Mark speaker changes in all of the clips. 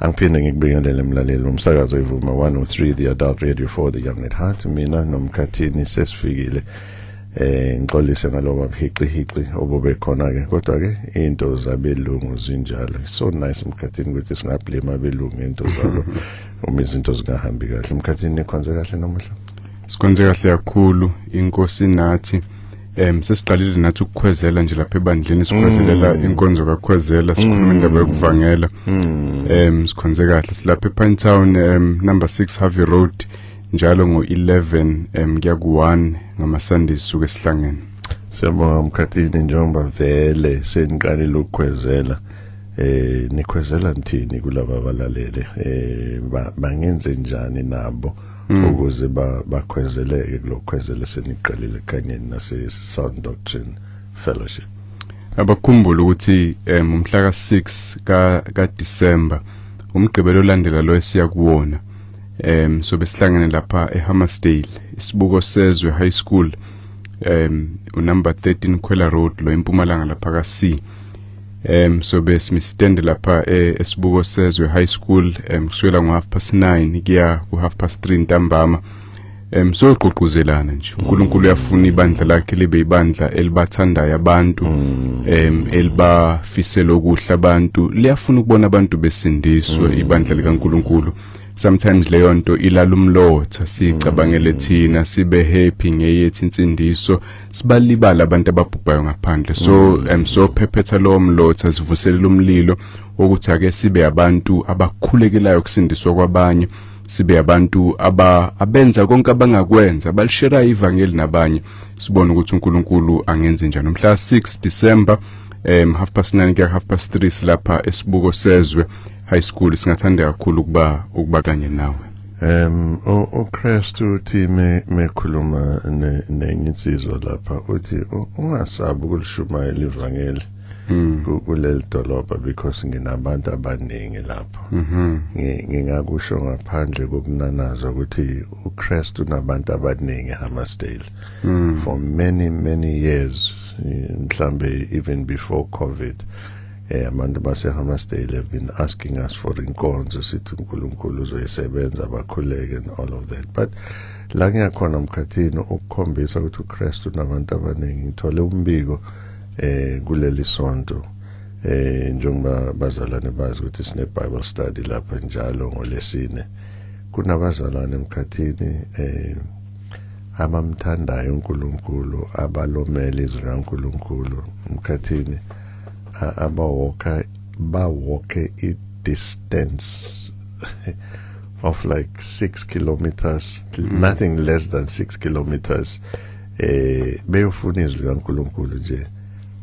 Speaker 1: angiphinde ngikubingelele mlaleli umsakazo ivuma 103 the adult radio for the young at heart mina nomkhathini sesifikile eh ngixolise ngaloba buhiqihiqi obube khona ke kodwa ke into zabelungu zinjalo so nice umkhathini ukuthi singablame abelungu into zabo uma izinto zingahambi kahle umkhathini nikhonze kahle namuhla sikhonze kahle
Speaker 2: kakhulu inkosi nathi um sesiqalile nathi ukukhwezela nje lapha ebandleni sikhwezelela mm. inkonzo kakhwezela sikhuluma indaba mm. yokuvangela um sikhonze kahle silapha epine town um number six harvey road njalo ngo-11 um kuya ku-1 ngamasunday sisuke sihlangene siyabonga
Speaker 1: mkhathini njengoba vele seniqalile ukukhwezela eh nikhwezela nithini kulaba balalele eh bangenze njani nabo mm. ukuze bakhwezeleke kulokhwezela seniqalile kanye nase Sound Doctrine Fellowship abakhumbula
Speaker 2: ukuthi um umhla ka-6 ka ka-December umgqibelo olandela lo esiya kuwona um so besihlangene lapha eHammersdale isibuko sezwe high school um unumber 13 Khwela Road lo empumalanga lapha ka-C em sobe simisitende lapha eh, esibuko sezwe high school em kusukela ngo half past 9 kuya ku half past 3 ntambama em soqoquzelana nje uNkulunkulu uyafuna ibandla lakhe libe ibandla elibathandayo abantu em elibafisela okuhle abantu liyafuna ukubona abantu besindiswe ibandla likaNkulunkulu sometimes leyo nto ilala umlotha sicabangele thina sibe happy ngeyethi insindiso sibalibala abantu ababhubhayo ngaphandle so mm. um so phephetha lowo mlotha sivuselela umlilo wokuthi ake sibe abantu abakhulekelayo kusindiswa kwabanye sibe abantu aba abenza konke abangakwenza balishera ivangeli nabanye sibone ukuthi uNkulunkulu angenze njani umhla 6 December um half past 9 kuya half past 3 silapha esibuko sezwe high school singathanda kakhulu ukuba ukuba kanye nawe Um uKristu
Speaker 1: uthi me mekhuluma nenye insizwa lapha uthi ungasabi ukulishumayela ivangeli hmm. kuleli dolobha because nginabantu abaningi lapho mhm. ngingakusho ngaphandle kokunanaza ukuthi uKristu unabantu abaningi Hammarsdale hmm. for many many years mhlambe even before covid eh abantu baseHammarsdale have been asking us for inkonzo sithi uNkulunkulu uzoyisebenza bakhuleke and all of that but la ngiyakhona mkhathini ukukhombisa ukuthi uKristu unabantu abaningi ngithole umbiko eh kuleli sonto eh njengoba bazalwane bazi ukuthi sine Bible study lapha njalo ngolesine kunabazalwane emkhathini eh abamthandayo uNkulunkulu abalomela izwi laNkulunkulu emkhathini abawalker bawalke i-distance of like six kilometers mm. nothing less than six kilometers eh beyofuna izwi likaNkuluNkulu nje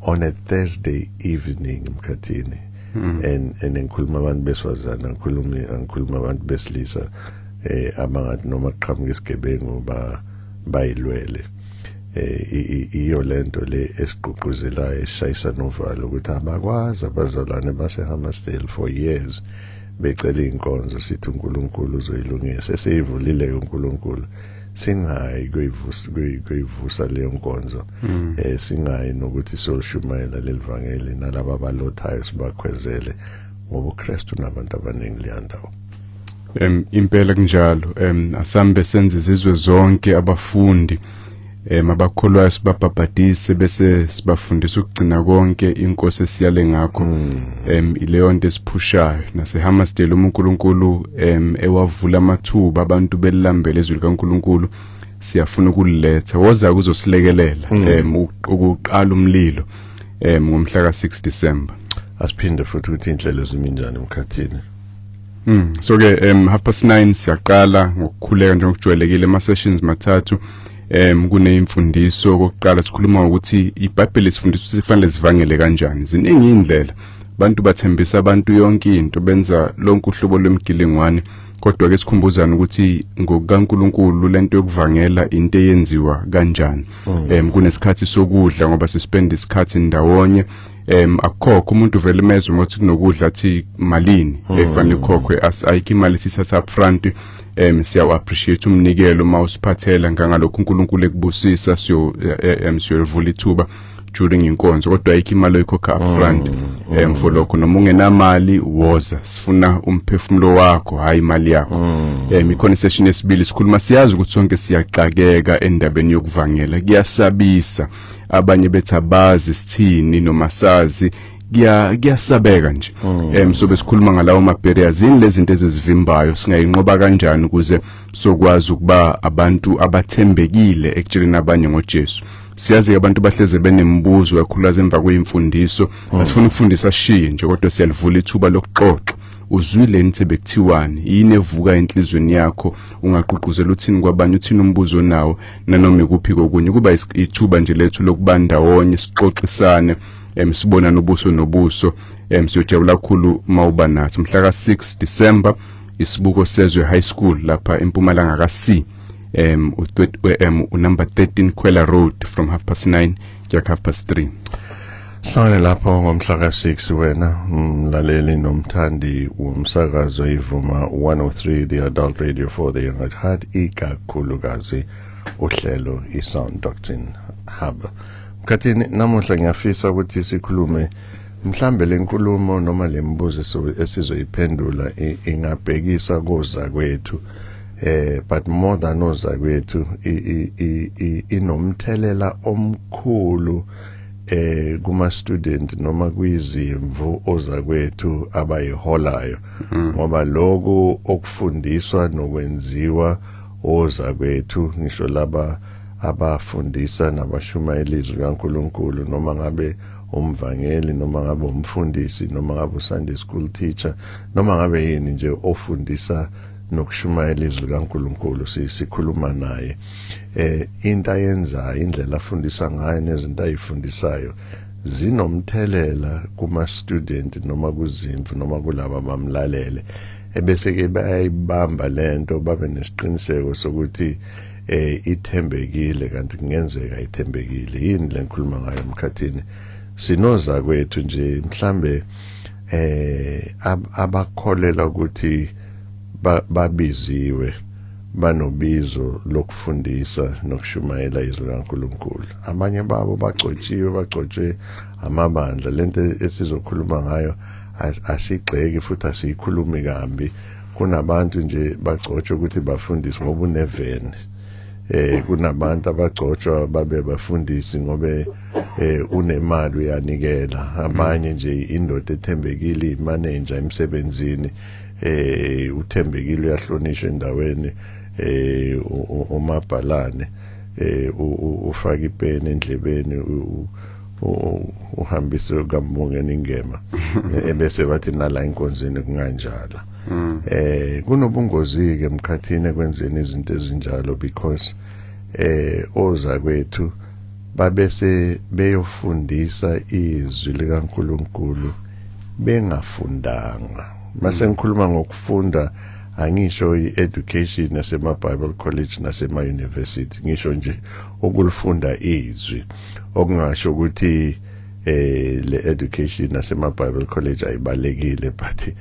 Speaker 1: on a Thursday evening emkhathini mm. and and ngikhuluma abantu beswazana ngikhuluma ngikhuluma abantu besilisa eh abangathi noma qhamuka isigebengu ba bayilwele eh iyo lento le esigqugquzelayo esishayisa novalo ukuthi abakwazi abazalwane baseHammersdale for years becela inkonzo sithi uNkulunkulu uzoyilungisa eseyivulile uNkulunkulu singayi kuyivusa leyo nkonzo mm. eh singayi nokuthi solushumayela lelivangeli nalabo abalothayo sibakhwezele ngoba uKristu nabantu abaningi leyandawo em
Speaker 2: impela kunjalo em asambe senze izizwe zonke abafundi eh mabakholwayo sibabhabhadise bese sibafundisa ukugcina konke inkosi esiyale ngakho hmm. em ileyo nto esiphushayo naseHammersdale uNkulunkulu em ewavula amathuba abantu belambele izwi likaNkulunkulu siyafuna ukuletha woza kuzosilekelela hmm. em ukuqala umlilo em ngomhla ka6 December asiphinde futhi
Speaker 1: ukuthi indlela eziminjani emkhathini Mm.
Speaker 2: So ke um half past 9 siyaqala ngokukhuleka njengokujwayelekile ama sessions mathathu em kuneimfundiso okokuqala sikhuluma ngokuthi iBhayibheli sifundisa ukuthi kufanele sivangele kanjani ziningi indlela abantu bathembisa abantu yonke into benza lonke uhlobo lwemgilingwane kodwa ke sikhumbuzana ukuthi ngokukaNkuluNkulu lento yokuvangela into eyenziwa kanjani mm. em kunesikhathi sokudla ngoba sispend isikhathi ndawonye em akukhokho umuntu vele imezwe ngothi kunokudla athi malini hmm. efanele ukhokhwe ayikho imali sisasa up front em siyawu appreciate umnikelo uma usiphathela ngangalokho uNkulunkulu ekubusisa siyo eh, eh, em siyovula ithuba during inkonzo kodwa ayikho imali oyikhokha up front mm, em mm. for lokho noma ungenamali woza sifuna umphefumulo wakho hayi imali yakho mm. em ikhona session yesibili sikhuluma siyazi ukuthi sonke siyaxakeka endabeni yokuvangela kuyasabisa abanye bethi abazi sithini noma sazi kuya kuyasabeka nje mm. em so besikhuluma ngalawo ma barriers yini lezinto ezizivimbayo singayinqoba kanjani ukuze sokwazi ukuba abantu abathembekile ekutsheleni abanye ngoJesu siyazi abantu bahleze benemibuzo yakhulaza emva kwemfundiso mm. asifuna ukufundisa shiye nje kodwa siyalivula ithuba lokuxoxa uzwile nithi bekuthiwani yini evuka enhlizweni yakho ungaqhuquzela uthini kwabanye uthini umbuzo nawo nanoma ikuphi kokunye kuba ithuba nje lethu lokubanda wonye sixoxisane em sibona nobuso nobuso em siyojabula kakhulu mawuba nathi mhla ka 6 December isibuko sezwe high school lapha empumalanga ka C um, um, number 13 Kwela Road from half past 9 Jack half past 3 Hlale
Speaker 1: lapho ngomhla ka6 wena mlaleli nomthandi womsakazo ivuma 103 the adult radio for the young at heart ikakhulukazi uhlelo isound doctrine hub mkhathini namuhla ngiyafisa ukuthi sikhulume mhlambe lenkulumo noma lembuzo esizoyiphendula ingabhekisa koza kwethu eh but more than ozakwethu inomthelela omkhulu eh kuma student noma kwizimvu ozakwethu abayiholayo mm. ngoba lokho okufundiswa nokwenziwa ozakwethu ngisho laba abafundisa nabashumayela izwi kaNkuluNkulu noma ngabe umvangeli noma ngabe umfundisi noma ngabe uSunday school teacher noma ngabe yini nje ofundisa nokushumayela izwi likaNkuluNkulu sikhuluma naye eh into ayenzayo indlela afundisa ngayo nezinto ayifundisayo zinomthelela kuma student noma kuzimvu noma kulabo abamlalele ebese ke bayayibamba lento babe nesiqiniseko sokuthi eh ithembekile kanti kungenzeka ithembekile yini lengikhuluma ngayo emkhathini sinoza kwethu nje mhlambe eh abakholela ukuthi babiziwe banobizo lokufundisa nokushumayela izwi likaNkuluNkulu abanye babo bagcotshiwe bagcotshwe amabandla lento esizokhuluma ngayo asigxeki futhi asiyikhulumi kambi kunabantu nje bagcotshwe ukuthi bafundise ngoba uneveni eh kunabantu abagcotshwa babe bafundisi ngobe eh unemali uyanikela abanye nje indoda ethembekile imanager emsebenzini eh uthembekile uyahlonishwa endaweni eh umabhalane eh ufaka ipeni endlebeni uhambise kambongeni ingema ebese bathi nala inkonzini kunganjala mm. eh kunobungozi ke emkhathini ekwenzeni izinto ezinjalo because eh oza kwethu babese beyofundisa izwi likaNkuluNkulu bengafundanga mase ngikhuluma ngokufunda angisho i-education nasema-bible college nasema-university ngisho nje ukulifunda izwi okungasho ukuthi eh le education nasema Bible college ayibalekile but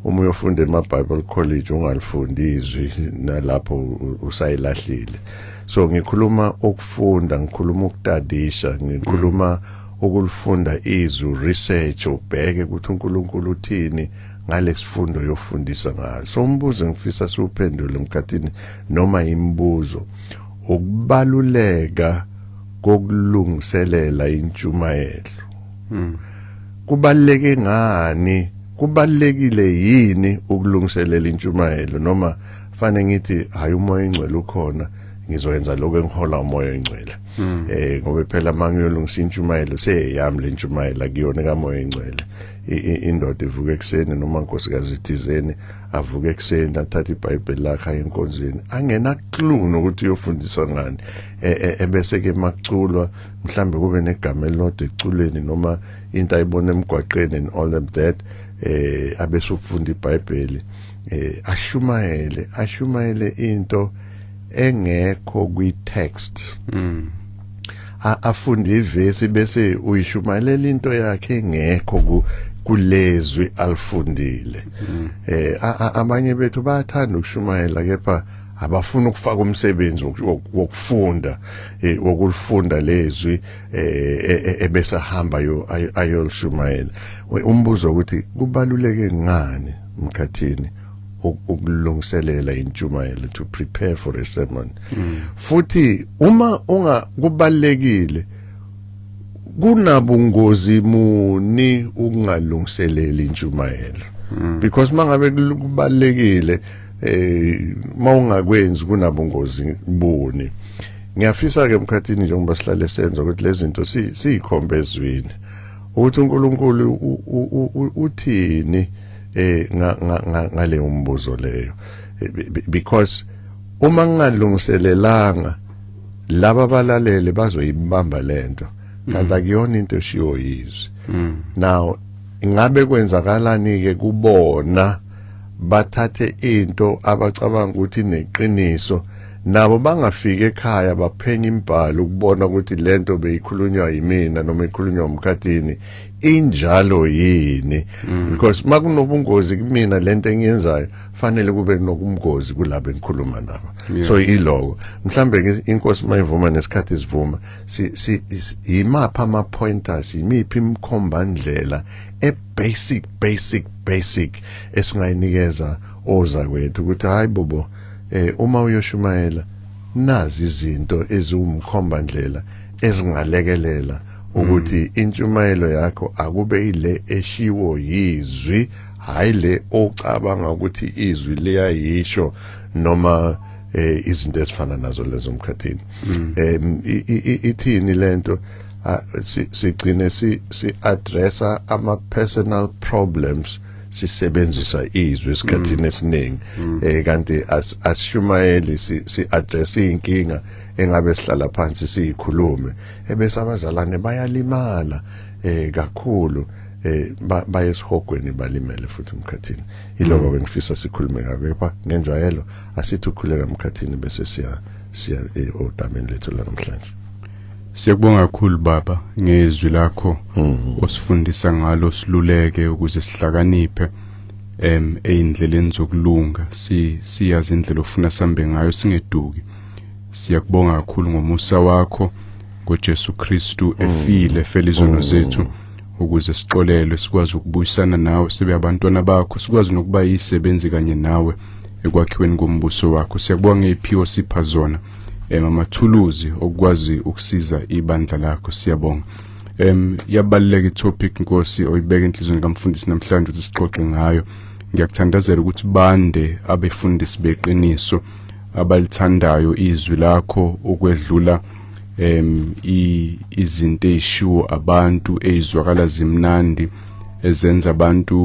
Speaker 1: uma uyofunda ema Bible college ungalifundi izwi nalapho usayilahlile so ngikhuluma ukufunda ngikhuluma ukutadisha ngikhuluma mm. ukulifunda izwi research ubheke ukuthi uNkulunkulu uthini ngalesifundo yofundisa ngayo so umbuzo engifisa siwuphendule mkhathini noma imibuzo ukubaluleka kokulungiselela intshumayelo hmm. kubaleke ngani kubalekile yini ukulungiselela intshumayelo noma fane ngithi hayi umoya engcwele ukhona ngizoyenza lokho engihola umoya engcwele hmm. eh ngoba phela mangiyolungisa intshumayelo seyeyami le ntshumayelo akuyona kamoya engcwele indoda ivuka ekuseni noma nkosikazi ithizeni avuka ekuseni athatha ibhayibheli lakhe enkonzweni angena clue nokuthi uyofundisa ngani e, e, ebese ke makuculwa mhlambe kube negama elilodwa eculweni noma into ayibona emgwaqeni and all of that eh abesufunda ibhayibheli eh ashumayele ashumayele into engekho kwi text mm afunde ivesi bese uyishumayela into yakhe engekho ku kulezwi alifundile mm. eh abanye bethu bayathanda ukushumayela kepha abafuna ukufaka umsebenzi wokufunda eh, wokulifunda lezwi eh, e, e, ebesahamba yo ayolishumayela umbuzo ukuthi kubaluleke ngani mkhathini ukulungiselela intshumayelo to prepare for a sermon mm. futhi uma unga kubalekile kunabungozi muni ukungalungiseleli intshumayelo mm. because mangabe kubalekile eh mawungakwenzi kunabungozi buni ngiyafisa ke emkhathini njengoba sihlale senza ukuthi lezi zinto siyikhombe ezwini ukuthi uNkulunkulu uthini eh ngale umbuzo leyo because uma ngingalungiselelanga laba balalele bazoyibamba lento kanti mm. akuyona into eshiwo yizwi mm. now ingabe kwenzakalani ke kubona bathathe into abacabanga ukuthi neqiniso nabo bangafika ekhaya baphenya imbhalo ukubona ukuthi lento beyikhulunywa yimina noma ikhulunywa umkhathini injalo yini mm. because makunobungozi kumina lento engiyenzayo fanele kube nokumgozi kulabo engikhuluma nabo yeah. so iloko mhlambe inkosi mayivuma nesikhathi sivuma si, si, si yimapha ama pointers yimiphi imkhomba ndlela e basic basic basic esingayinikeza oza kwethu ukuthi hayi bobo Eh uma uyoshumayela nazi izinto eziwumkhomba ndlela ezingalekelela ukuthi mm. intshumayelo yakho akube ile eshiwo yizwi hayi le ocabanga ukuthi izwi liyayisho noma eh izinto ezifana nazo lezo mkhathini mm. em ithini lento sigcine si si addressa ama personal problems sisebenzisa izwi esikhathini mm. esiningi mm. eh kanti asishumayeli si address inkinga engabe sihlala phansi siyikhulume ebese abazalwane bayalimala eh kakhulu eh bayesihogweni balimele futhi umkhathini iloko mm. ke ngifisa sikhulume ngakho kepha ngenjwayelo asithi ukhuleka umkhathini bese siya siya eh, odameni lethu la namhlanje Siyakubonga
Speaker 2: kakhulu baba ngezwi lakho mhm. osifundisa ngalo siluleke ukuze sihlakaniphe em eindleleni zokulunga si siyazi indlela ofuna sambe ngayo singeduki siyakubonga kakhulu ngomusa wakho ngoJesu Kristu mhm. efile fela izono mhm. zethu ukuze sixolelwe sikwazi ukubuyisana nawe sibe abantwana bakho sikwazi nokuba yisebenzi kanye nawe ekwakhiweni kombuso wakho siyakubonga ngeziphiwo sipha zona em amathuluzi okwazi ukusiza ibandla lakho siyabonga em yabaluleka itopic Nkosi oyibeka enhlizweni kamfundisi namhlanje ukuthi sixoxe ngayo ngiyakuthandazela ukuthi bande abefundisi beqiniso abalithandayo izwi lakho ukwedlula em izinto ezishiwo abantu ezizwakala zimnandi ezenza abantu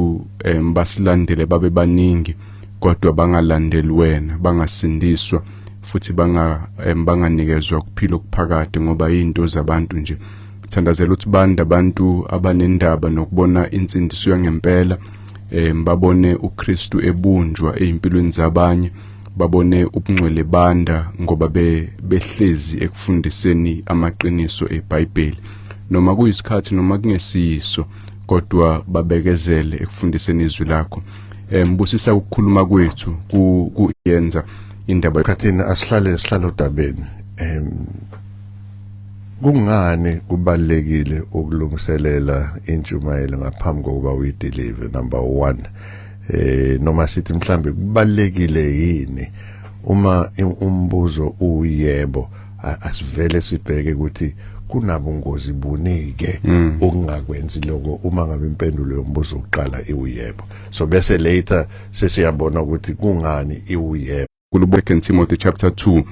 Speaker 2: basilandele babe baningi kodwa bangalandeli wena bangasindiswa futhi banga banganikezwa ukuphila okuphakade ngoba izinto zabantu nje thandazela ukuthi banda abantu abanendaba nokubona insindiso yangempela em babone uKristu ebunjwa ezimpilweni zabanye babone ubungcwele banda ngoba be behlezi ekufundiseni amaqiniso eBhayibheli noma kuyisikhathi noma kungesiyiso kodwa babekezele ekufundiseni izwi lakho eh mbusisa ukukhuluma kwethu kuyenza indaba khathina asihlale
Speaker 1: sihlale odabeni em kungani kubalekile ukulungiselela intshumayelo ngaphambi kokuba uyideliver number 1 eh noma sithi mhlambe kubalekile yini uma umbuzo uyebo asivele sibheke ukuthi kunabungozi bunike mm. okungakwenzi lokho uma ngabe impendulo yombuzo uqala iwuyebo so bese later sesiyabona
Speaker 2: ukuthi
Speaker 1: kungani
Speaker 2: iwuyebo kulubeke
Speaker 1: Timothy
Speaker 2: chapter
Speaker 1: 2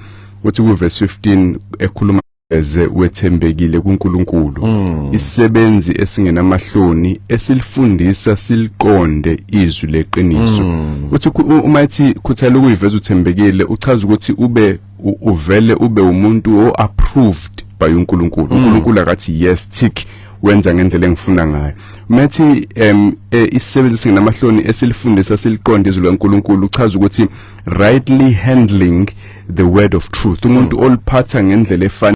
Speaker 2: uthi ku verse 15 ekhuluma eze wethembekile kuNkulunkulu mm. isebenzi esingenamahloni esilifundisa siliqonde izwi leqiniso mm. uthi uma ethi khuthala ukuyiveza uthembekile uchaza ukuthi ube uvele ube umuntu o approved by uNkulunkulu mm. uNkulunkulu akathi yes tick wenza ngendlela engifuna ngayo methi em e, isisebenzi singenamahloni esilifundisa siliqonde izwi laNkulunkulu uchaza ukuthi rightly handling the word of truth umuntu mm. oliphatha ngendlela efana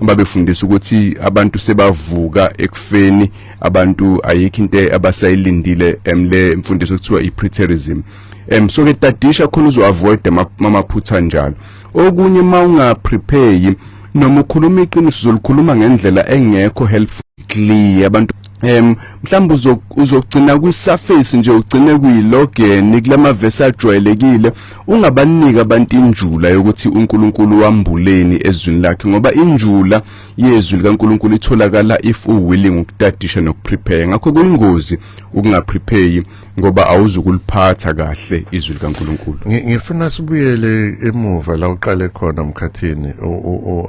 Speaker 2: babefundisa ukuthi abantu sebavuka ekufeni abantu ayikho into abasayilindile emle mfundiso kuthiwa i-preterism em so ke tadisha khona uzoavoid amaphutha njalo okunye mawungaprepare noma ukhuluma iqiniso uzolikhuluma ngendlela engekho helpful clear abantu em mhlawumbe uzogcina kwi surface nje ugcine kuyilogen kulama verse ajwayelekile ungabanika abantu injula yokuthi uNkulunkulu wambuleni ezwini lakhe ngoba injula yezwi likaNkulunkulu itholakala if u willing ukutadisha nokuprepare ngakho kuyingozi ukungaprepare ngoba awuzukuliphatha kahle izwi likaNkuluNkulu ngifuna sibuyele
Speaker 1: emuva la uqale khona mkhathini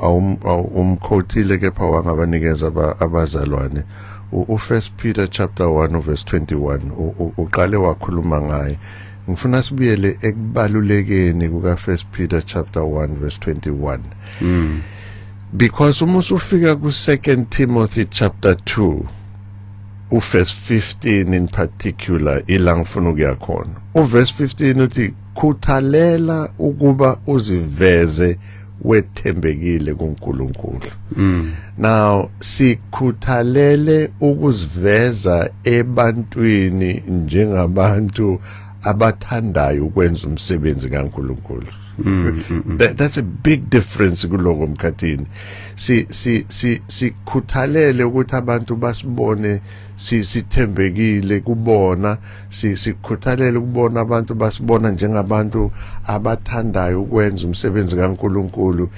Speaker 1: awumkhothile kepha wangabanikeza abazalwane uFirst Peter chapter 1 verse 21 uqale wakhuluma ngaye ngifuna sibuyele ekubalulekeni kuka First Peter chapter 1 verse 21 mm. because uma usufika ku Second Timothy chapter 2 uverse 15 in particular ila ngifuna ukuya khona uverse 15 uthi khuthalela ukuba uziveze wethembekile kuNkulunkulu mm. now sikhuthalele ukuziveza ebantwini njengabantu abathandayo ukwenza umsebenzi kaNkulunkulu Mm, mm, mm. That, that's a big difference kuloko mkhathini si si si sikhuthalele ukuthi abantu basibone si sithembekile kubona si sikhuthalele ukubona abantu basibona njengabantu abathandayo ukwenza umsebenzi kaNkuluNkulu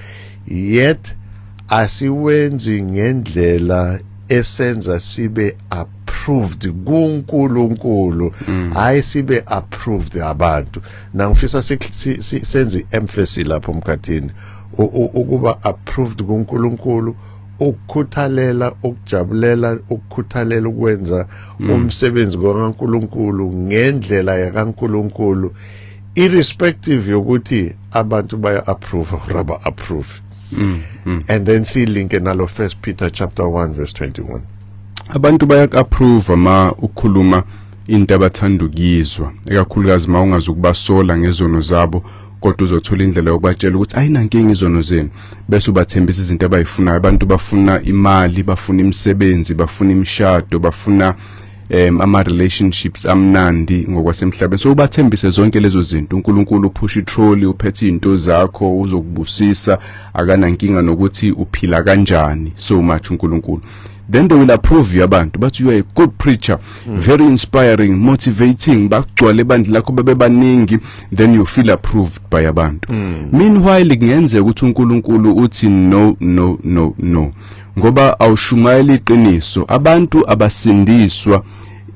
Speaker 1: yet asiwenzi ngendlela esenza sibe up approved kuNkulunkulu mm. hayi sibe approved abantu nangifisa senze i-emphasis lapho mkhathini ukuba approved kuNkulunkulu ukukhuthalela ukujabulela ukukhuthalela ukwenza mm. umsebenzi kaNkuluNkulu ngendlela yakaNkuluNkulu irrespective yokuthi abantu baya approve or aba approve mm, mm. and then see link nalo first Peter chapter 1 verse 21 abantu baya
Speaker 2: approve uma ukhuluma into abathanda ukuyizwa ekakhulukazi uma ungazi ukubasola ngezono zabo kodwa uzothola indlela yokubatshela ukuthi ayinankinga izono zenu bese ubathembisa izinto abayifunayo abantu bafuna imali bafuna imisebenzi bafuna imishado bafuna um ama-relationships amnandi ngokwasemhlabeni so ubathembise zonke lezo zinto unkulunkulu uphusha itroli uphethe iy'nto zakho uzokubusisa akanankinga nokuthi uphila kanjani so much unkulunkulu then they will approve you abantu bathi you are a good preacher mm. very inspiring motivating bagcwale bandla lakho babebaningi then you feel approved by abantu mm. meanwhile kungenzeka ukuthi uNkulunkulu uthi no no no no ngoba awushumayela iqiniso abantu abasindiswa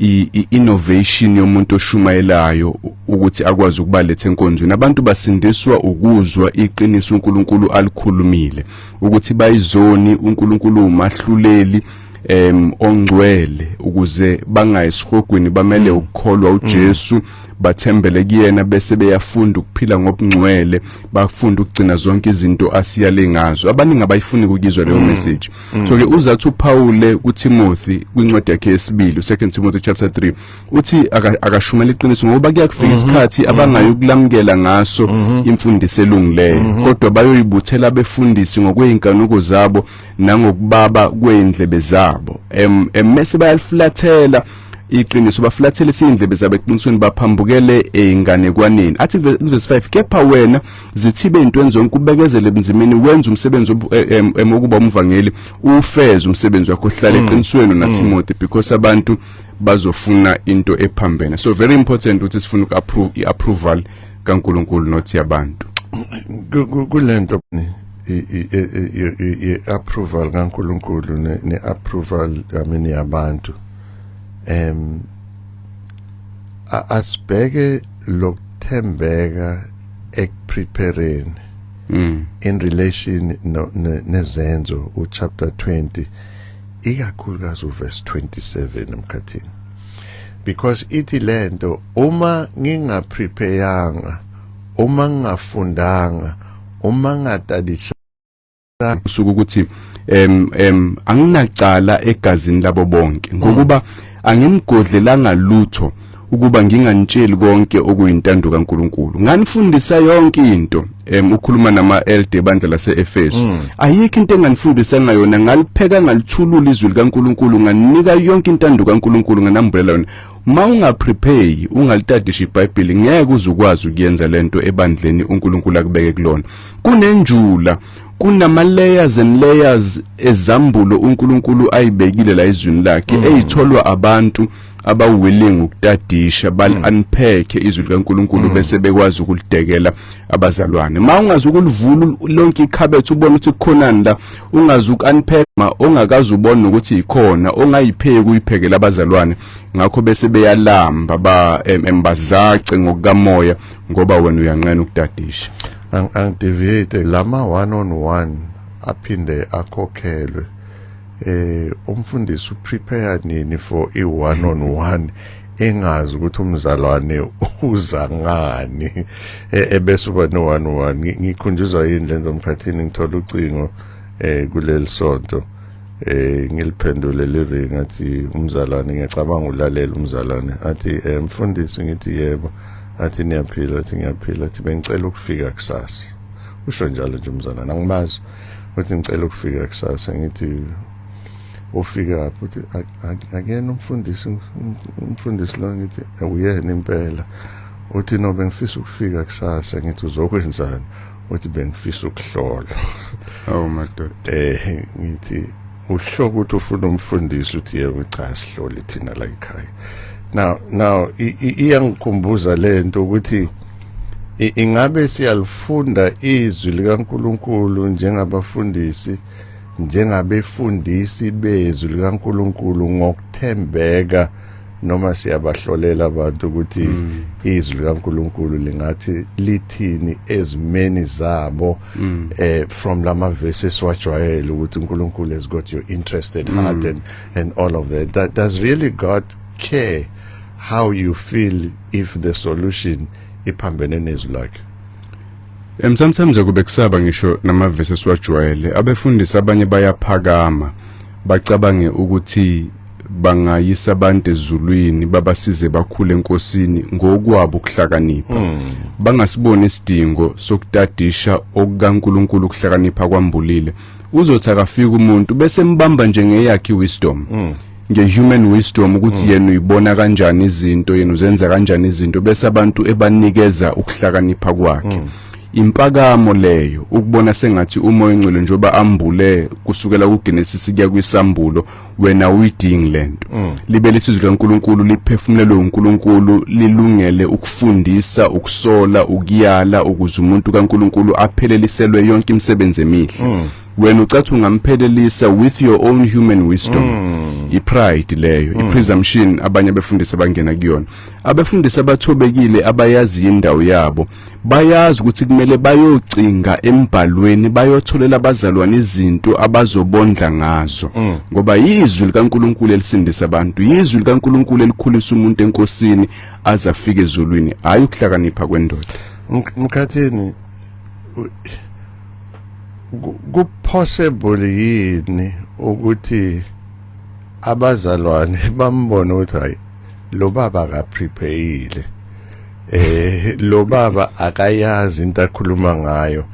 Speaker 2: i-innovation yomuntu oshumayelayo ukuthi akwazi ukubaletha enkonzweni abantu basindiswa ukuzwa iqiniso uNkulunkulu alikhulumile ukuthi bayizoni uNkulunkulu umahluleli em ongcwele ukuze bangayisihogwini bamele ukukholwa uJesu bathembele kuyena bese beyafunda ukuphila ngobungcwele bafunda ukugcina zonke izinto asiyale ngazo abaningi abayifuni ukuyizwa leyo message so ke uzathi uPaul kuTimothy kwincwadi yakhe yesibili uSecond Timothy chapter 3 uthi akashumela iqiniso ngoba kuyakufika mhm. isikhathi mhm. abangayokulamukela ngaso mhm. imfundiso elungileyo kodwa bayoyibuthela abefundisi ngokweinkanuko zabo nangokubaba kweindlebe zabo em emese bayaliflathela iqiniso baflathele sindlebe zabo eqinisweni baphambukele einganekwaneni athi verse 5 kepha wena zithibe into enzonke kubekezele ebunzimeni wenza umsebenzi e, emokuba umvangeli ufeze umsebenzi wakho hlala mm. eqinisweni naTimothy mm. because abantu mm. bazofuna into ephambene so very important ukuthi sifuna uku-approve i-approval kankulunkulu not yabantu
Speaker 1: kule nto i-approval kankulunkulu ne-approval yamini yabantu um asibheke lokuthembeka ekuprepareni mm. in relation nezenzo uchapter 20 ikakhulukazi uverse 27 emkhathini because ithi lento uma ngingaprepayanga uma ngingafundanga uma ngatadisha
Speaker 2: usuku ukuthi em em anginacala egazini labo bonke ngokuba angimgodlelanga lutho ukuba nginganitsheli konke okuyintando kaNkuluNkulu nganifundisa yonke into em ukhuluma nama elde bandla laseEfesu mm. ayikho into enganifundisa ngayona ngalipheka ngalithulula izwi likaNkuluNkulu nganika yonke intando kaNkuluNkulu nganambulela yona ma ungaprepare ungalitadisha iBhayibheli ngeke uzukwazi ukuyenza lento ebandleni uNkuluNkulu akubeke kulona kunenjula kunama layers and layers ezambulo uNkulunkulu ayibekile la izwini lakhe mm. eyitholwa abantu abawilling ukutadisha bal mm. unpack izwi likaNkuluNkulu mm. bese bekwazi ukulidekela abazalwane ma ungazi ukulivula lonke ikhabethe ubona ukuthi kukhonani la ungazi ukunpack ma ongakazi ubona ukuthi ikhona ongayipheki uyiphekela abazalwane ngakho bese beyalamba ba embazace ngokukamoya ngoba wena uyanqena ukudadisha angideviate
Speaker 1: lama one on one aphinde akhokhelwe eh umfundisi uprepare nini for i one on one engazi ukuthi umzalwane uza ngani e, ebese uba no one one ngikhunjuzwa yini lento mkhathini ngithola ucingo eh kuleli sonto eh ngiliphendule live ngathi umzalwane ngiyacabanga ulalela umzalwane athi eh, mfundisi ngithi yebo athi niyaphila athi ngiyaphila athi bengicela ukufika kusasa usho njalo nje umzalwane angimazi uthi ngicela ukufika kusasa ngithi ufika futhi akuyena umfundisi umfundisi lo ngithi uyena impela uthi no bengifisa ukufika kusasa ngithi uzokwenzani uthi bengifisa ukuhlolwa awu
Speaker 2: madoda eh ngithi
Speaker 1: usho ukuthi ufuna umfundisi uthi yebo cha sihloli thina la ekhaya now now iyangikhumbuza lento ukuthi ingabe siyalifunda izwi likaNkuluNkulu njengabafundisi njengabefundisi bezwi likaNkuluNkulu ngokuthembeka noma siyabahlolela abantu ukuthi mm. izwi likaNkuluNkulu lingathi lithini ezimeni zabo mm. eh from lama verses wajwayele ukuthi uNkulunkulu has got your interested mm. heart and and all of that that does really God care how you feel if the solution iphambene nezwi lakhe em
Speaker 2: sometimes akube kusaba ngisho nama verses wajwayele abefundisi abanye bayaphakama bacabange ukuthi bangayisa abantu ezulwini babasize bakhule enkosini ngokwabo ukuhlakanipha hmm. bangasiboni isidingo sokutadisha okukaNkuluNkulu ukuhlakanipha kwambulile uzothi akafika umuntu bese mbamba njengeyakhe wisdom hmm. ngehuman wisdom ukuthi hmm. yena uyibona kanjani izinto yena uzenza kanjani izinto bese abantu ebanikeza ukuhlakanipha kwakhe Impakamo leyo ukubona sengathi umoya ongcwele njoba ambule kusukela kuGenesis kuya kwisambulo wena uyidingi lento mm. libe lesizwe kaNkuluNkulu liphefumulelwe uNkuluNkulu lilungele ukufundisa ukusola ukuyala ukuze umuntu kaNkuluNkulu apheleliselwe yonke imisebenzi emihle mm. wena ucathi ungamphelelisa with your own human wisdom mm. ipride leyo mm. ipresumption abanye abefundisi abangena kuyona abefundisi abathobekile abayazi indawo yabo bayazi ukuthi kumele bayocinga embhalweni bayotholela abazalwane izinto abazobondla ngazo mm. ngoba yizwi likaNkuluNkulu elisindisa abantu yizwi likaNkuluNkulu elikhulisa umuntu enkosini aze afike ezulwini hayi ukuhlakanipha kwendoda mkhathini
Speaker 1: ku possible yini ukuthi abazalwane bambone ukuthi hayi lo baba akaprepayile eh lo baba akayazi into akhuluma ngayo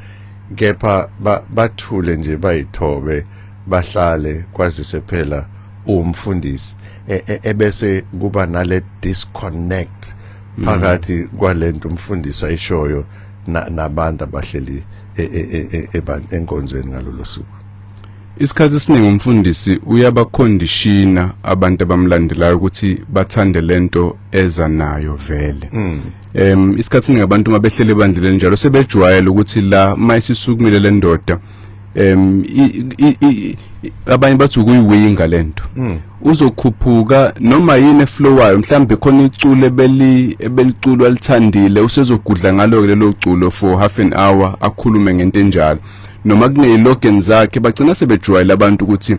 Speaker 1: kepha bathule nje bayithobe bahlale kwazise phela umfundisi e, e, ebese kuba nale disconnect mm. phakathi kwalento umfundisi ayishoyo nabantu abahleli e, enkonzweni ngalolu suku Isikhathi
Speaker 2: esiningi umfundisi uyabakhondishina abantu abamlandelayo ukuthi bathande lento eza nayo vele. Mm. Em isikhathi esiningi abantu uma behlele ebandla lenjalo sebejwayele ukuthi la mayisisukumile lendoda em abanye bathi ukuyiwinga lento. Mm. uzokhuphuka noma yini eflowayo mhlambe khona iculo ebeli ebeliculo alithandile usezogudla ngalo lelo culo for half an hour akhulume ngento enjalo noma kuneyilogeni zakhe bagcina sebejwayela abantu ukuthi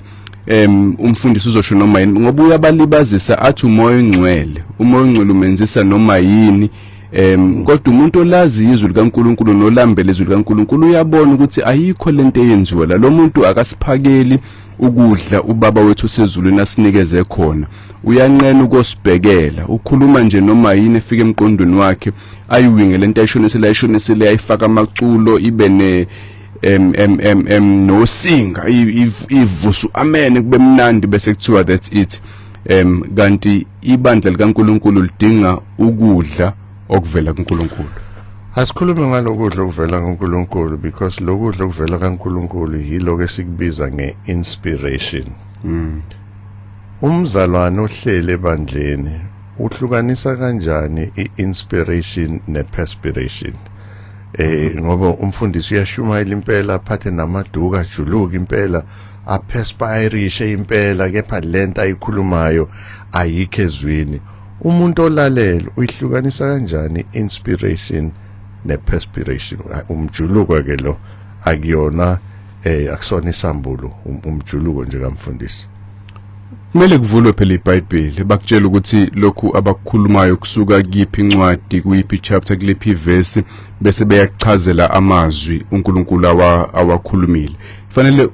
Speaker 2: em umfundisi uzosho noma yini ngoba uyabalibazisa athi umoya ongcwele umoya ongcwele umenzisa noma yini em kodwa umuntu olazi izwi likaNkuluNkulu nolambele izwi likaNkuluNkulu uyabona ukuthi ayikho lento eyenziwa la lo muntu akasiphakeli ukudla ubaba wethu osezulwini asinikeze khona uyanqena ukosibhekela ukhuluma nje noma yini efika emqondweni wakhe ayiwinge lento ayishonisele ayishonisele ayifaka amaculo ibe ne em em em em nosinga ivusu amen kube mnandi bese kuthiwa that's it em kanti ibandla likaNkuluNkulu lidinga ukudla okuvela kuNkulunkulu asikhulume
Speaker 1: ngalokudla okuvela kuNkulunkulu because lokudla okuvela kaNkulunkulu yiloko esikubiza ngeinspiration mm. umzalwane ohlele ebandleni uhlukanisa kanjani iinspiration neperspiration eh ngoba umfundisi uyashumayela impela aphathe namaduka ajuluka impela aperspirishe impela kepha lento ayikhulumayo ayikho ezwini umuntu olalele uyihlukanisa kanjani inspiration neperspiration umjuluko ke lo akuyona eh akusona isambulo um, umjuluko nje kamfundisi kumele
Speaker 2: kuvulwe phela iBhayibheli bakutshela ukuthi lokhu abakukhulumayo kusuka kuyiphi incwadi kuyiphi chapter kulephi verse bese beyakuchazela amazwi uNkulunkulu awakhulumile fanele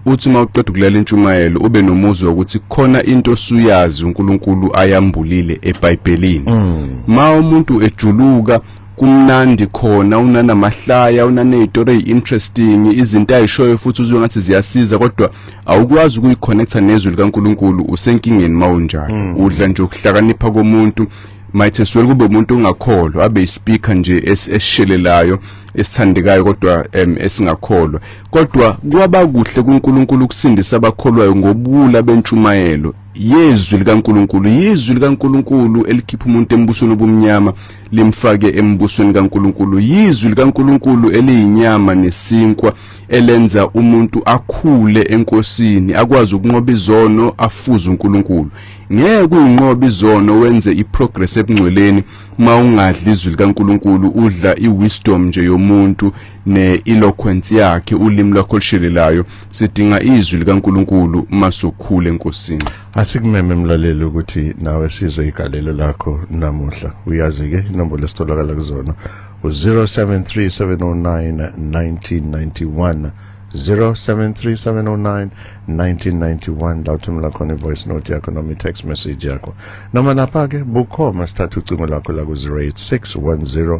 Speaker 2: uthi uma uqeda ukulalela intshumayelo ube nomuzwa ukuthi khona into osuyazi uNkulunkulu ayambulile eBhayibhelini mm. ma umuntu ejuluka kumnandi khona unanamahlaya unanezitori interesting izinto ayishoyo futhi uzwe ngathi ziyasiza kodwa awukwazi ukuyiconnecta nezwi likaNkuluNkulu usenkingeni mawunjalo mm. udla nje ukuhlakanipha komuntu might as well kube umuntu ongakholwa abe ispeaker nje esishelelayo esithandekayo kodwa esingakholwa Kodwa kwaba kuhle kuNkulunkulu ukusindisa abakholwayo ngobuwula bentshumayelo yezwi likaNkulunkulu yizwi likaNkulunkulu elikhipha umuntu embusweni obumnyama limfake embusweni kaNkulunkulu yizwi likaNkulunkulu eliyinyama nesinkwa elenza umuntu akhule enkosini akwazi ukunqoba izono afuze uNkulunkulu ngeke uyinqobe izono wenze iprogress ebungcweleni uma ungadli izwi likaNkulunkulu udla iwisdom nje yomuntu ne-eloquence yakhe ulimi lwakho olushelelayo sidinga izwi likaNkuluNkulu masokhule enkosini asikumeme
Speaker 1: mlaleli ukuthi nawe sizwe igalelo lakho namuhla uyazi ke inombolo esitholakala kuzona u-0737091991 0737091991 la uthumela khona i-voice note yakho noma i-text message yakho noma lapha-ke bukhoma sithatha ucingo lakho la ku-086 10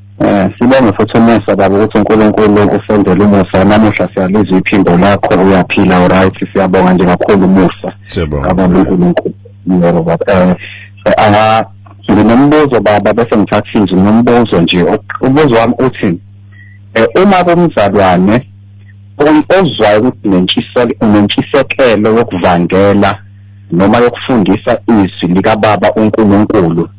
Speaker 3: Eh, sibonge futhi umusa baba ukuthi uNkulunkulu usenzele umusa namuhla siyalizwa iphimbo lakho uyaphila right siyabonga nje kakhulu umusa baba
Speaker 1: uNkulunkulu
Speaker 3: yebo baba eh, eh aha nginombuzo baba bese ngithatha izwi nombuzo nje ubuzo wami uthi eh, uma kumzalwane ozwayo ukuthi nentshiselo unentshisekelo yokuvangela noma yokufundisa izwi likababa uNkulunkulu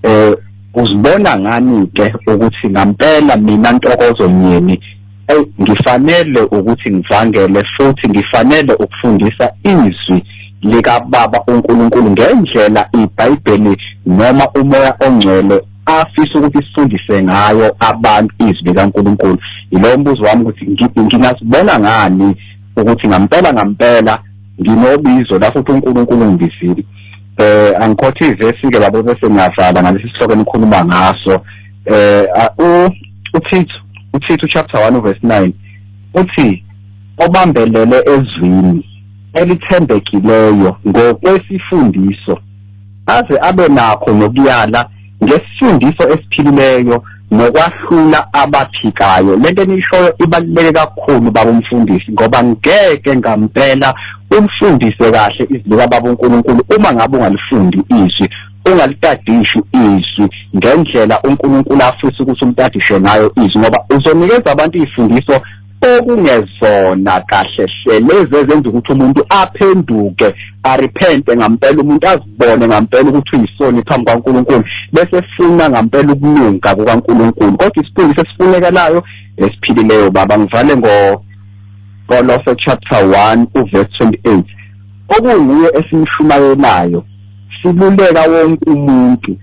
Speaker 3: eh uzibona ngani ke ukuthi ngampela mina ntokozo nyeni hey ngifanele ukuthi ngivangele futhi ngifanele ukufundisa izwi likababa uNkulunkulu ngendlela iBhayibheli noma umoya ongcwele afisa ukuthi sifundise ngayo abantu izwi likaNkulunkulu yilowo mbuzo wami ukuthi ngingasibona ngani ukuthi ngampela ngampela nginobizo la futhi uNkulunkulu ungibizile eh angikhotha ivesi ke babo bese ngiyavala ngalesi sihloko enikhuluma ngaso eh u uThithu uThithu chapter 1 verse 9 uthi obambelele ezwini elithembekileyo ngokwesifundiso aze abe nakho nokuyala ngesifundiso esiphilileyo nokwahlula abaphikayo lento enishoyo ibaluleke kakhulu baba umfundisi ngoba ngeke ngampela ulifundise kahle izwi kababa uNkulunkulu uma ngabe ungalifundi izwi ungalitadishi izwi ngendlela uNkulunkulu afisa ukuthi umtadishe ngayo izwi ngoba uzonikeza abantu izifundiso okungezona kahle hle lezi ezenza ukuthi umuntu aphenduke arepente ngampela umuntu azibone ngampela ukuthi uyisoni phambi kwaNkulunkulu bese funa ngampela ukulunga kukaNkulunkulu kodwa isifundo sesifunekelayo esiphilileyo baba ngivale ngo Kolose chapter 1 uverse 28 okunguye esimshumayelayo siluleka wonke umuntu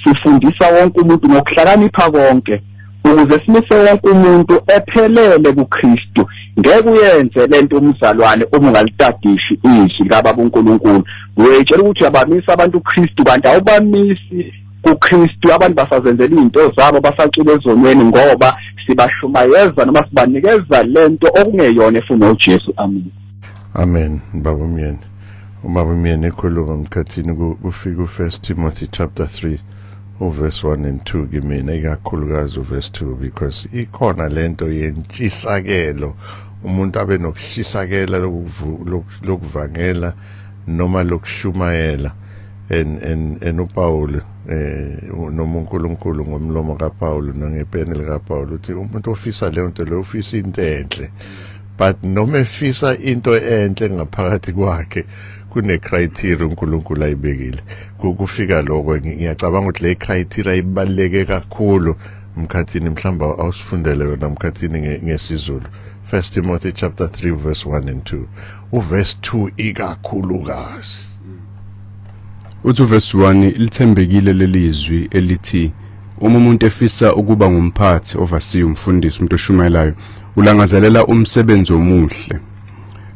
Speaker 3: sifundisa wonke umuntu ngokuhlakanipha konke ukuze simise wonke umuntu ephelele kuKristu ngeke uyenze lento umzalwane uma ungalitadishi izwi kababa uNkulunkulu uyayitshela ukuthi uyabamisa abantu uKristu kanti awubamisi kuKristu abantu basazenzela izinto zabo basacula ezonweni ngoba sibashumayeza noma sibanikeza lento okungeyona efuna uJesu amen amen
Speaker 1: baba umyeni uma umyeni ekhuluma mkhathini kufika uFirst Timothy chapter 3 uverse 1 and 2 kimina ikakhulukazi uverse 2 because ikhona lento yentshisakelo umuntu abe nokushisakela lokuvangela noma lokushumayela en en en uPaul eh noma uNkulunkulu ngomlomo kaPaul nangepeni likaPaul uthi umuntu ofisa leyo nto leyo ufisa into enhle but noma efisa into enhle ngaphakathi kwakhe kune criteria uNkulunkulu ayibekile kufika lokho ngiyacabanga ukuthi le criteria ibaleke kakhulu mkhathini mhlamba awusifundele yona mkhathini ngesizulu First Timothy chapter 3 verse 1 and 2 uverse 2 ikakhulukazi
Speaker 2: uthi uverse 1 lithembekile lelizwi elithi uma umuntu efisa ukuba ngumphathi ovasiyo umfundisi umuntu oshumayelayo ulangazelela umsebenzi omuhle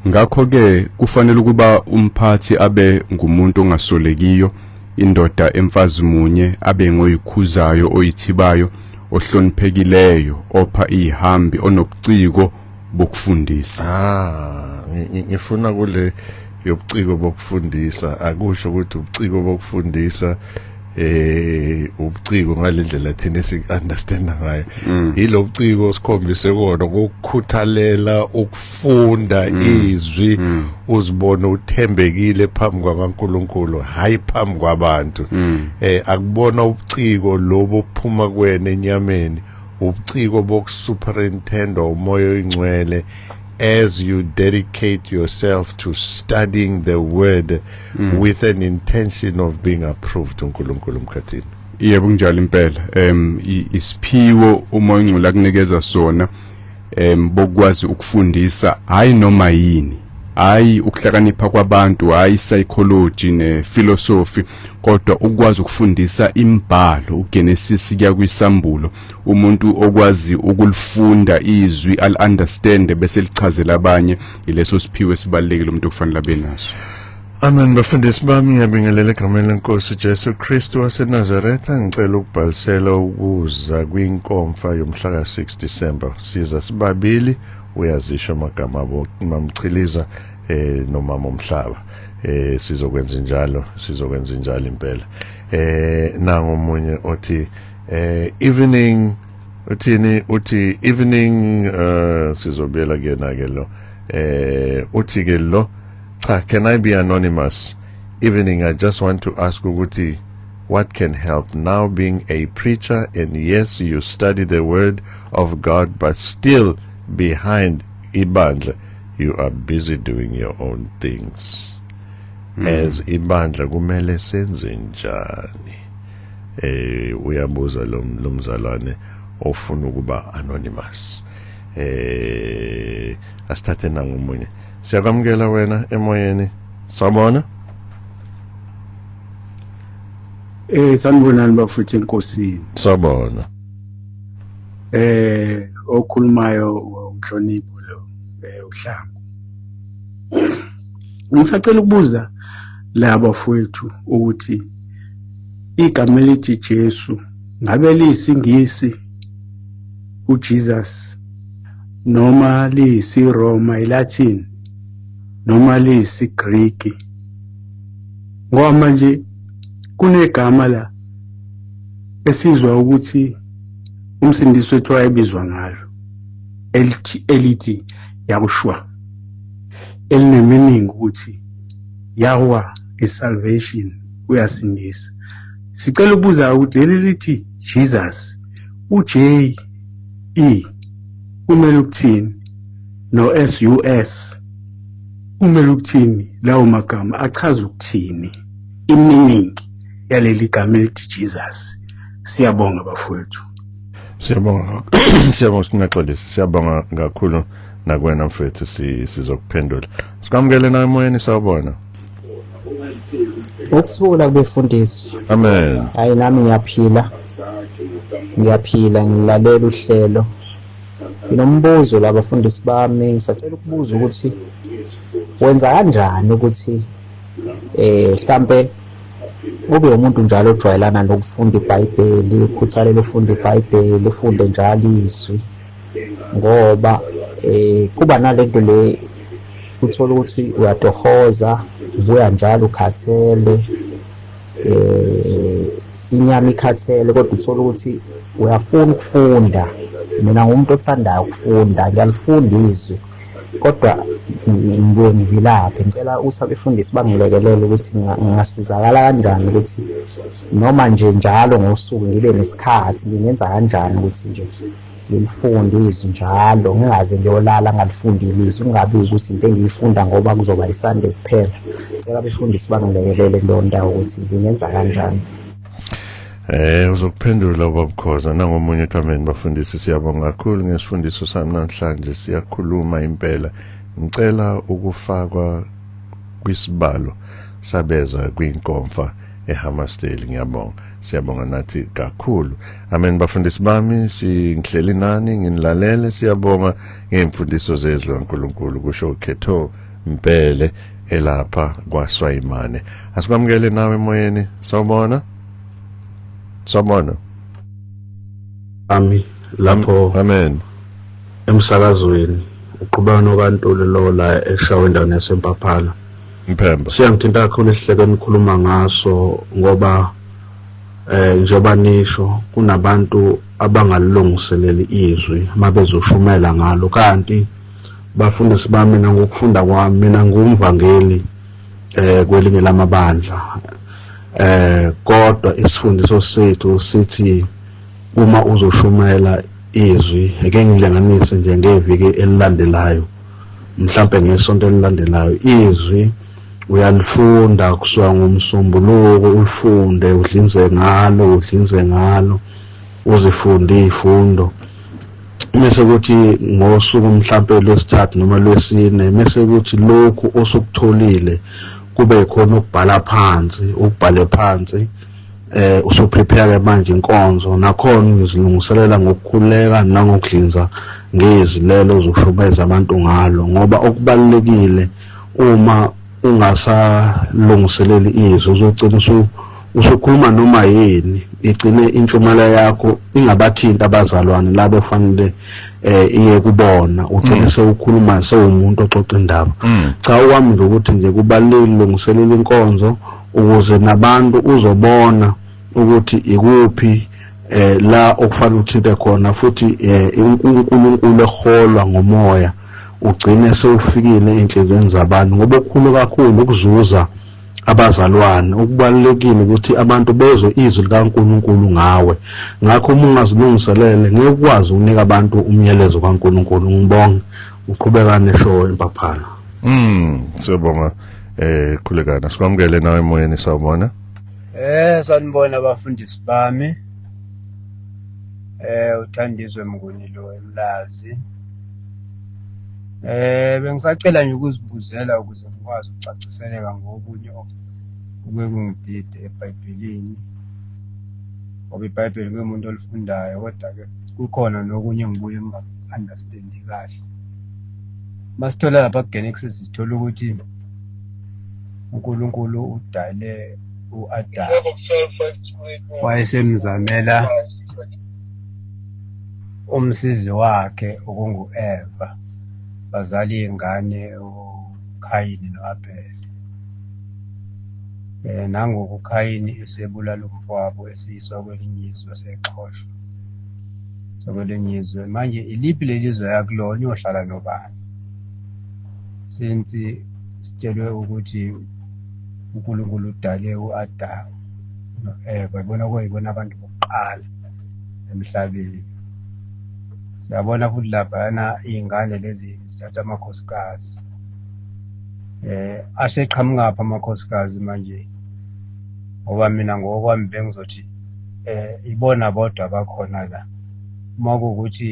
Speaker 2: Ngakho-ke kufanele ukuba umphathi abe ngumuntu ongasolekiyo, indoda emfazi munye, abe ngoyikhuzayo, oyithibayo, ohloniphekileyo, opha iyihambi, onobuciko bokufundisa. Ah, ngi-
Speaker 1: ngi- ngifuna kule yobuciko bokufundisa akusho ukuthi ubuciko bokufundisa eh ubuciko ngalendlela thina siunderstand ngayo mm. ilobuciko sikhombise kona ukukhuthalela ukufunda mm. izwi mm. uzibone uthembekile phambi kwaNkuluNkulu hayi phambi kwabantu eh akubona ubuciko lobo phuma kwena enyameni ubuciko bokusuperintendwa umoya oyingcwele as you dedicate yourself to studying the word mm. with an intention of being approved uNkulunkulu mkhathini yebo kunjalo
Speaker 2: impela em isiphiwo uma ingcula kunikeza sona em bokwazi ukufundisa hayi noma yini hayi ukuhlakanipha kwabantu hayi psychology ne philosophy kodwa ukwazi ukufundisa imbhalo uGenesis kuya kwisambulo umuntu okwazi ukulifunda izwi al understand bese lichazela abanye ileso siphiwe sibalekile umuntu okufanele abe naso Amen
Speaker 1: bafundisi bami ngiyabingelela egameni lenkosi Jesu Kristu waseNazaretha ngicela ukubhalisela ukuza kwinkomfa yomhla ka-6 December siza sibabili uyazisho amagama abo mamchiliza eh nomama omhlaba eh sizokwenza njalo sizokwenza njalo impela eh nangomunye othi eh evening uthini uthi evening uh sizobuyela kuyena ke lo eh uthi ke lo cha can i be anonymous evening i just want to ask ukuthi what can help now being a preacher and yes you study the word of god but still behind ibandla you are busy doing your own things mm. as ibandla kumele senze njani eh uyabuza lo mzalwane ofuna ukuba anonymous eh asithathe nangomunye siyakwamukela wena emoyeni sabona
Speaker 4: eh sanibonani bafuthi enkosini sabona
Speaker 1: eh
Speaker 4: okhulumayo umhlonipho lo eh, uhlangu ngisacela ukubuza laba fowethu ukuthi igama elithi Jesu ngabe liyisiNgisi uJesus noma liyisiRoma iLatin noma liyisiGriki ngoba manje kunegama la esizwa ukuthi umsindisi wethu wayebizwa ngalo elithi elithi Yakushwa elineminingi ukuthi Yahweh is salvation uyasindisa sicela ukubuza ukuthi leli lithi Jesus uJ E kumele ukuthini no SUS kumele ukuthini lawo magama achaza ukuthini iminingi yaleli gama elithi Jesus siyabonga bafowethu
Speaker 1: Siyabonga siyabonga singaxolisi siyabonga kakhulu nakwena mfethu sizokuphendula sikwamukele nawe emoyeni sawubona
Speaker 5: ukuthula kubefundisi amen hayi
Speaker 1: nami ngiyaphila
Speaker 5: ngiyaphila ngilalela uhlelo nginombuzo la bafundisi bami ngisacela ukubuza ukuthi wenza kanjani ukuthi eh mhlambe ube umuntu njalo ojwayelana nokufunda ibhayibheli ukhuthalele ufunda ibhayibheli ufunde njalo izwi ngoba um kuba nale nto le uthole ukuthi uyatohoza ubuya njalo ukhathele um inyama ikhathele kodwa uthole ukuthi uyafuna ukufunda mina ngumuntu othandayo ukufunda ngiyalifunda izwi kodwa ngibuye ngivilaphe ngicela ukuthi abefundisi bangilekelele ukuthi ngingasizakala kanjani ukuthi noma nje njalo ngosuku ngibe nesikhathi ngingenza kanjani ukuthi nje ngilifunde izwi njalo ngingaze ngiyolala ngalifundile izwi kungabi ukuthi into engiyifunda ngoba kuzoba isande kuphela ngicela abefundisi bangilekelele kuleyo ndawo ukuthi ngingenza kanjani Eh
Speaker 1: uzokuphendula ubabukhoza nangomunye ekameni bafundisi siyabonga kakhulu ngesifundiso sami namhlanje siyakhuluma impela ngicela ukufakwa kwisibalo sabeza kwinkomfa eHammarsdale ngiyabonga siyabonga nathi kakhulu amen bafundisi bami singihleli nani nginilalele siyabonga ngemfundiso zezwi kaNkuluNkulu kusho ukhetho Mpele elapha kwaSwayimane. Asikwamukele nawe emoyeni. Sawubona. Sawubona.
Speaker 6: Ami lapho. Amen. Emsakazweni uqhubeka nokantuli lo la eshawe endaweni yasempaphana. Mphemba.
Speaker 1: Siyangithinta kakhulu
Speaker 6: isihleke enikhuluma ngaso ngoba eh njengoba nisho kunabantu abangalilungiseleli izwi mabezoshumela ngalo kanti Bafundisi bami mina ngokufunda kwami mina ngumvangeli eh kwelinye lamabandla eh kodwa isifundiso sethu sithi uma uzoshumela izwi eke ngilinganise nje ngeviki elilandelayo mhlambe ngesonto elilandelayo izwi uyalifunda kusuka ngomsombuluko ulifunde udlinze ngalo udlinze ngalo uzifunde izifundo mese kuthi ngosuku mhlampe lwesithathu noma lwesine mese kuthi lokhu osukutholile kube khona ukubhala phansi ukubhale phansi eh usuprepare ke manje inkonzo nakhona ngizilungiselela ngokukhuleka nangokuhlinza ngezwi lelo zoshubeza abantu ngalo ngoba okubalekile uma ungasalungiseleli izwi uzogcina usukhuluma noma yini igcine intshumela yakho ingabathinti abazalwane labo fanele eh iye kubona ugcine mm. sewukhuluma sewumuntu oxoxa indaba mm. cha okwami nje ukuthi nje kubalulekile lungiselela inkonzo ukuze nabantu uzobona ukuthi ikuphi eh la okufanele uthinte khona futhi eh uNkulunkulu eholwa ngomoya ugcine sewufikile enhlizweni zabantu ngoba okukhulu kakhulu ukuzuza abazalwane okubalulekile ukuthi abantu bezwe izwi likaNkuluNkulu ngawe ngakho uma ungazilungiselele ngeke ukwazi ukunika abantu umyalezo kaNkuluNkulu ngibonge uqhubeka neshow empaphana mm
Speaker 1: siyabonga eh khulekana sikwamukele nawe emoyeni sawubona eh
Speaker 7: sanibona abafundisi bami eh uthandizwe mnguni lo emlazi Eh bengisacela nje ukuzibuzela ukuze ngikwazi ukucaciseleka ngokunye okuke kungidide eBhayibhelini. Ngoba iBhayibheli ngiwumuntu olifundayo kodwa-ke kukhona nokunye engibuye ngingaku-understandi kahle. Uma sithola lapha kuGenesis sithola ukuthi uNkulunkulu udale u-Adamu wayesemzamela Umsizi wakhe okungu-Eva, bazala iy'ngane uKhayini no-Abhele. Um nangoku uKhayini esebulala umfowabo esiyiswa kwelinye izwe sexhoshwa sakwelinye izwe. Manje iliphi leli zwe yakulona uyohlala nobani? Since sitshelwe ukuthi uNkulunkulu udale u-Adamu no-Eva, ibona kuyibona abantu okokuqala emhlabeni siyabona futhi laphayana iy'ngane lezi zithatha amakhosikazi eh aseqhamukaphi amakhosikazi manje ngoba mina ngokwami bengizothi eh ibona bodwa abakhona la uma kuwukuthi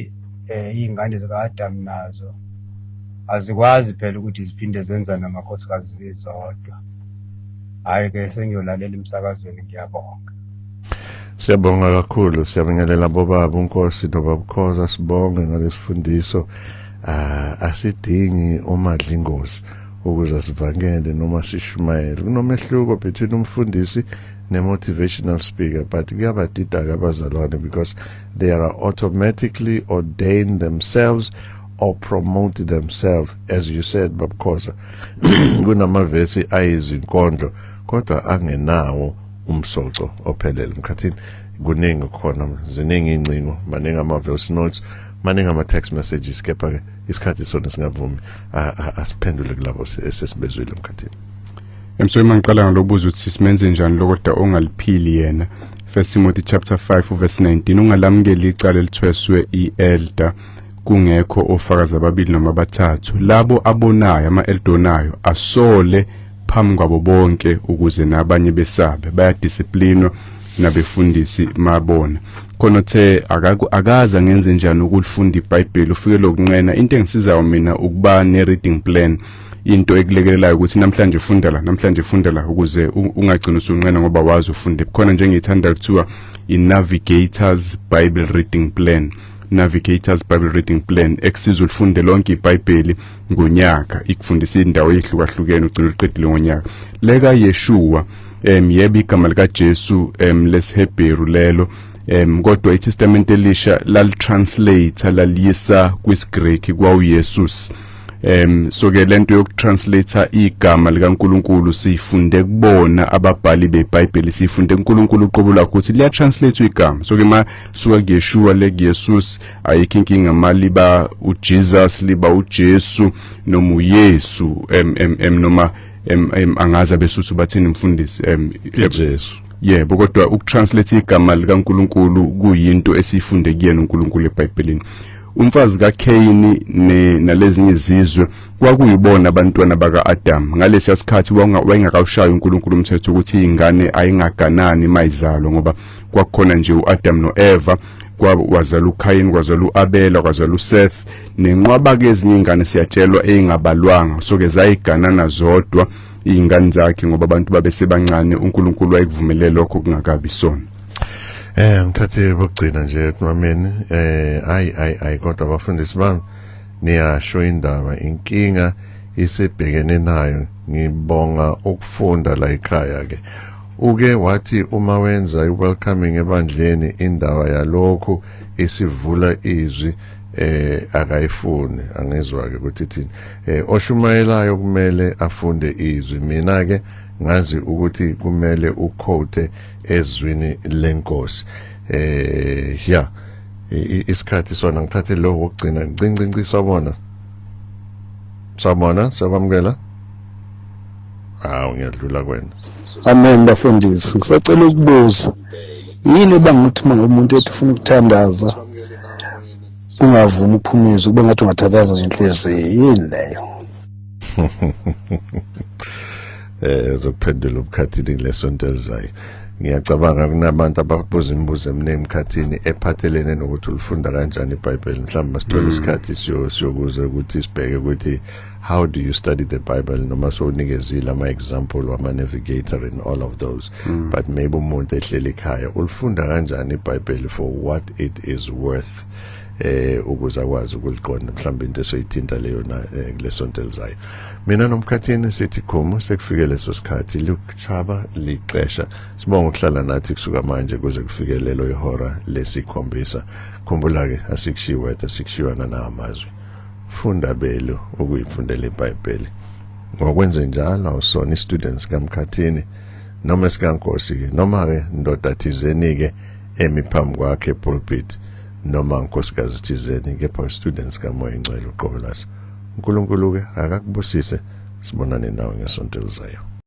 Speaker 7: eh iy'ngane zika-adamu nazo azikwazi phela ukuthi ziphinde zenza namakhosikazi zizodwa hhayi-ke sengiyolalela emsakazweni ngiyabonga Siyabonga
Speaker 1: kakhulu siyabingelela bobaba uNkosi nobabukhoza sibonge ngalesifundiso ah asidingi umadla ingozi ukuze sivangele noma sishumayele kunomehluko between umfundisi ne-motivational speaker but kuyabadida-ke abazalwane because they are automatically ordained themselves or promote themselves as you said babukhoza kunamavesi ayizinkondlo kodwa angenawo umsoco ophelele mkhathini kuningi khona ziningi ingcingo maningi ama voice notes maningi ama text messages kepha ke isikhathi sona singavumi asiphendule kulabo esesibezwile mkhathini emsoyi
Speaker 2: mangiqala ngalobuza ukuthi simenze njani lokoda ongaliphili yena First Timothy chapter 5 verse 19 ungalamukeli icala elithweswe ielder kungekho ofakazi ababili noma abathathu labo abonayo ama-eldonayo asole phambi kwabo bonke ukuze nabanye besabe bayadisiplinwa nabefundisi mabona khona uthe akaza ngenze njani ukulifunda iBhayibheli ufike lokunqena into engisizayo mina ukuba ne reading plan into ekulekelelayo ukuthi namhlanje funda la namhlanje funda la ukuze ungagcini usunqena ngoba wazi ufunde khona njengeyithanda kuthiwa i-navigators bible reading plan navigators bible reading plan ekusiza ulifunde lonke ibhayibheli ngonyaka ikufundisa indawo ezihlukahlukene ugcina uliqedile ngonyaka leka Yeshua em yebo igama lika Jesu em lesihebheru lelo em kodwa iTestament elisha lalitranslate laliyisa kwisiGreek kwaUYesus em soke lento yokutranslate igama likaNkuluNkulu sifunde kubona ababhali beBhayibheli sifunde uNkuluNkulu uqobo lakhe ukuthi liya translate igama soke ma suka kuYeshua le kuYesus ayikho inkinga maliba uJesus liba uJesu noma uYesu em em em noma em em angazi abesuthu bathini mfundisi em uJesu
Speaker 1: yebo kodwa
Speaker 2: ukutranslate igama likaNkuluNkulu kuyinto esiyifunde kuyena uNkuluNkulu eBhayibhelini umfazi kaKhayini nalezinye izizwe kwakuyibona abantwana baka-Adam ngalesiya sikhathi wayengakawushayi uNkulunkulu umthetho ukuthi ingane ayingaganani mayizalwa ngoba kwakukhona nje u-Adam no-Eva kwazala uKhayini kwazala uAbela kwazala uSeth nenqwaba ke ezinye ingane siyatshelwa eingabalwanga soke zayiganana zodwa ingane zakhe ngoba abantu babesebancane uNkulunkulu wayekuvumelele lokho kungakabi sona eh
Speaker 1: ngithathe bokugcina nje ekumameni eh ayi ayi ayi kodwa abafundisi bami niyasho indaba inkinga isebhekene nayo ngibonga ukufunda la ekhaya ke Uke wathi uma wenza iwelcoming ebandleni indaba yalokhu isivula izwi eh akayifuni angizwa ke ukuthi thini eh oshumayelayo kumele afunde izwi mina ke ngazi ukuthi kumele uquote ezwini lenkosi eh ya isikhathi sona ngithathe lo wokugcina ncincinci sabona sabona sakwamukela hawu ngiyadlula kwena amen
Speaker 6: bafundisi ngisacela ukubuza yini ebangukuthi uma umuntu ethi ufuna ukuthandaza ungavumi ukuphuma izwi kube ngathi ungathandaza ngenhliziyo yini leyo
Speaker 1: eh uzokuphendula ubukhathini lesonto elizayo ngiyacabanga kunabantu ababuza imibuzo eminingi emkhathini ephathelene nokuthi ulifunda kanjani iBhayibheli mhlawumbe masithola mm. isikhathi siyokuze ukuthi sibheke ukuthi how do you study the bible noma sowunikezile ama-example wama-navigator in all of those mm. but maybe umuntu ehleli ekhaya ulifunda kanjani ibhayibheli for what it is worth eh ukuze akwazi ukuliqonda mhlawumbe into esoyithinta leyo na eh, kulesonto elizayo mina nomkhathini sithi khomo sekufike leso sikhathi Luke Chaba lixesha sibonga ukuhlala nathi kusuka manje kuze kufike lelo ihora lesikhombisa khumbula ke asikushiwe asikushiwa nana amazwi funda belu ukuyifundela iBhayibheli ngokwenze njalo awusona istudents kamkhathini noma esikankosi ke noma ke ndoda thizeni ke emi phambi kwakhe pulpit noma nkosikazi thizeni kepha students kamoya ingcwele uqobo laso uNkulunkulu ke akakubusise sibonane nawe ngesonto elizayo